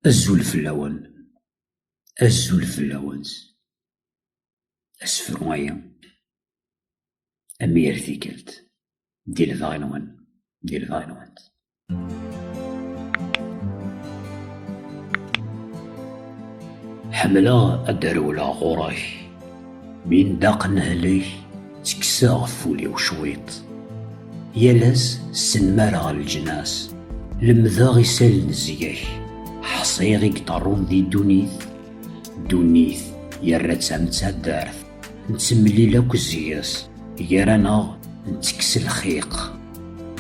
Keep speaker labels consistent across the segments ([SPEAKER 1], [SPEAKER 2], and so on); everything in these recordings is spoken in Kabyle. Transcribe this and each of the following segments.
[SPEAKER 1] Azul fell-awen, azul fell-awen s asefru-agi, a mi ar tikkelt, di lebɣi-nwen, di lebɣi-nwen. Ḥemmleɣ ad d-rewleɣ ɣur-k. Mi nedda qenhelek, ttekkseɣ ɣef wul-iw cwiṭ. Yal ass ssenmareɣ leǧnas, lemdeɣ isal n zgak, ḥṣiɣ i yeṭerrun di ddunit. Ddunit yerra-tt am taddart, nettemlil akk zges, gar-aneɣ nettekkes lxiq.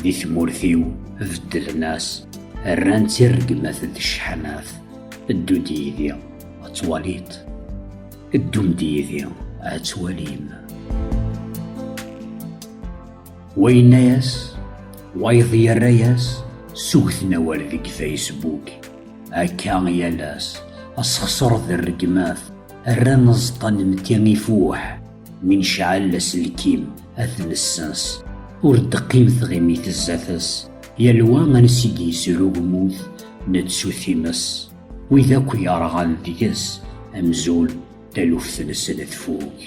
[SPEAKER 1] Di tmurt-iw beddlen-as, rran-tt i rregmat d cḥanat. Ddu-d yid-i ad twaliḍ. Ddum-d yid-i ad twalim. Wa yenna-yas, wayeḍ yerra-yas, sugten awal deg Facebook. Akka yal ass, asexṣer d rregmat, rran aẓeṭṭa n mti ifuḥ. Mi necɛel aselkim, ad t-nessens. Ur d-teqqim tɣimit zdat-s, yal wa ansi d-yesru lmut, nettu times. Wid akk yerɣan deg-s amzul, taluft-nsen tfuk.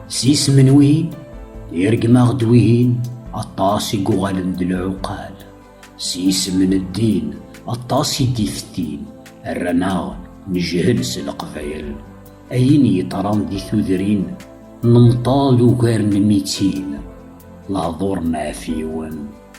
[SPEAKER 1] S yisem n wihin, irgem-aɣ-d wihin aṭas i yuɣalen d lɛuqal. S yisem n ddin, aṭas i d-ifettin, rran-aɣ nejhel s leqbayel. Ayen yeṭran di tudrin, nemṭal ugar n mitin, lehdur n ɛfiwen.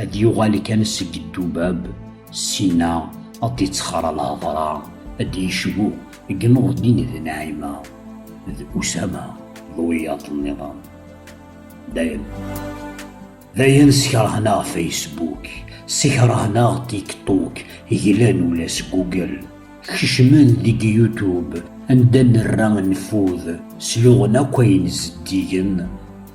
[SPEAKER 1] ad d-yuɣal kan seg ddubab sina ad d-ittxara lhedra ad d-yecbu deg Nurdin d Naɛima d Usama d wiyaḍ nniḍen dayen dayen skerhneɣ Facebook skerhneɣ TikTok glan ula s Google kecmen deg YouTube anda nerra nfud sluɣen akk ayen zeddigen